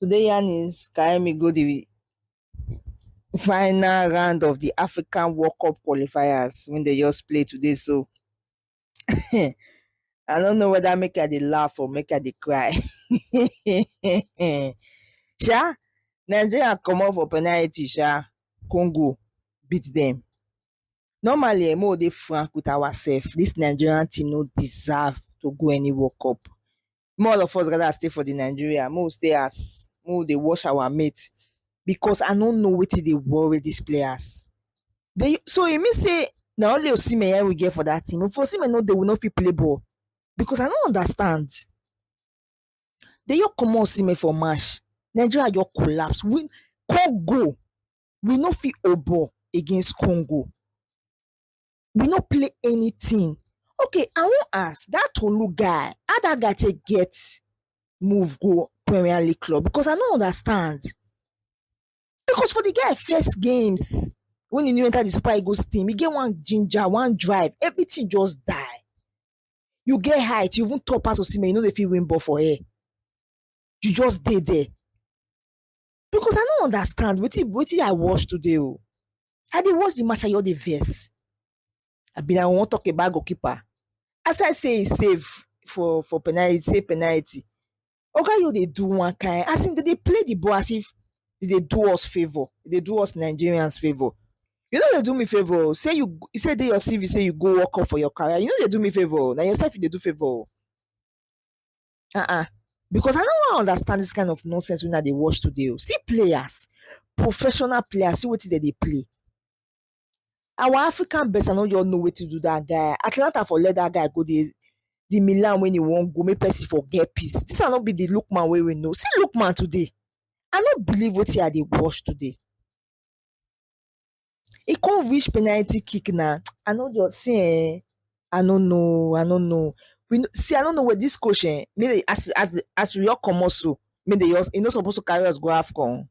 Today yarn is Kaemi go the final round of the African World Cup qualifiers when they just play today. So I don't know whether make I dey laugh or make I dey cry. sha, Nigeria come off for penalty sha, Congo beat them. Normally, I'm all dey frank with ourselves. This Nigerian team no deserve to go any World Cup. make all of us gather stay for the Nigeria, make we stay house, make we dey watch our mate because I no know wetin dey worry these players. They, so e mean say na only Osimhen yeah we get for that team. If Osimhen no dey, we no fit play ball because I no understand. They just comot Osimhen for match, Nigeria just collapse. We Congo, we no fit hold ball against Congo. we no play anything. Okay, I wan ask that Tolu guy, how that guy take get move go Premier League club? Because I no understand. Because for the guy first games when he new enter the Super Eagles team, he get one ginger, one drive, everything just die. You get height, you even top pass Osimhen, you know they feel win ball for air. You just dey there. because i no understand wetin wetin i watch today o i dey watch the match i just dey vex i bin i wan talk about goalkeeper as i say he save for for penalty save penalty oga yo dey do one kind as in dem dey play the ball as if e dey do us favour e dey do us nigerians favour you no dey do me favour o say you you say e dey your cv say you go work up for your career you no dey do me favour o na yourself you dey do favour o Uh-uh. Because I no wan understand this kind of nonsense una dey watch today o. Oh. See players, professional players, see wetin dem dey play. Our African best, I no just know wetin do that guy. Atalanta for let that guy go dey the Milan when he wan go, make person for get peace. This one no be the Lookman wey we know. See Lookman today. I no believe wetin I dey watch today. e come reach penalty kick na I no just see eh I no know I no know we no see I no know this coach eh make dey as as as we all comot so make dey just e no suppose to carry us go AFCON o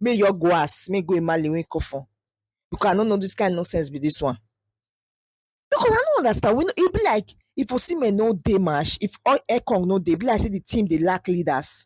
make e just go house make e go Emale make e come for because I no know this kind nonsense be this one because I no understand we no e be like if Osimhen no dey match if Ekong no dey e be like say the team dey lack leaders